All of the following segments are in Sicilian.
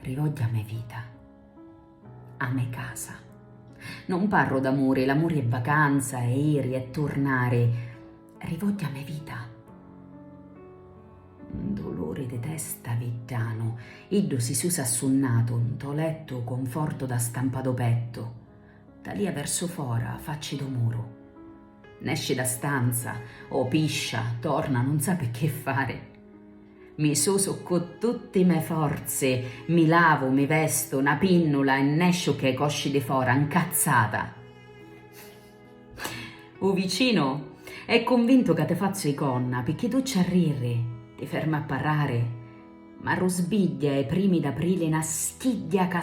Rivogghi a me vita, a me casa. Non parru d'amuri, l'amuri è vacanza, è iri, è turnari. Rivogghi a me vita. Un duluri di testa viddanu, iddu si susa assunnatu, nto lettu conforto da stampa do pettu, talia versu fora, facci do muru. Nesci da stanza, o piscia, torna, nun sapi che fari. Mi susu ccu tutti me forzi, mi lavu, mi vestu, na pinnula e nesciu cche cosci di fora, 'ncazzata. U vicinu è cunvintu ca ti fazzu i conna picchì tu ci arriri, ti fermi a parrari, m'arrusbigghia i primi d'aprili na schigghia ca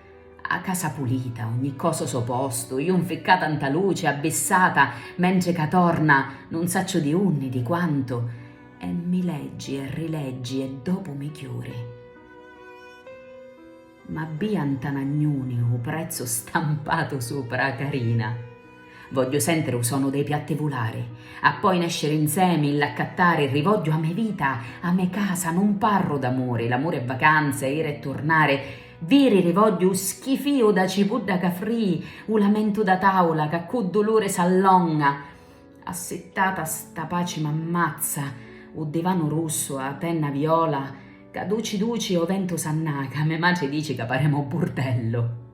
A casa pulita, ogni cosa o so postu, iu 'nficcata 'nta luci, abbissata, mentri ca torna, nun sacciu di unni, di quantu, e mi leggi e rileggi e dopu mi chiuri. M'abbia 'nta n'agnuni u prezzu stampatu supra, carina. Vogghiu sentiri 'u sonu dei piatti vulari, appoi nesciri 'nsemi, ll'accattari, rivogghiu 'a me vita, 'a me casa, nun parru d'amuri, l'amuri è vacanza, iri e turnari, viriri vogghiu 'u schifiu d'a cipudda ca frii, 'u lamentu d'a tavula ca ccu duluri s'allonga, assittata 'sta paci m'ammazza, 'u divanu russu, 'a penna viola ca duci duci 'o ventu s'annaca, me matri dici ca paremu 'u burdellu.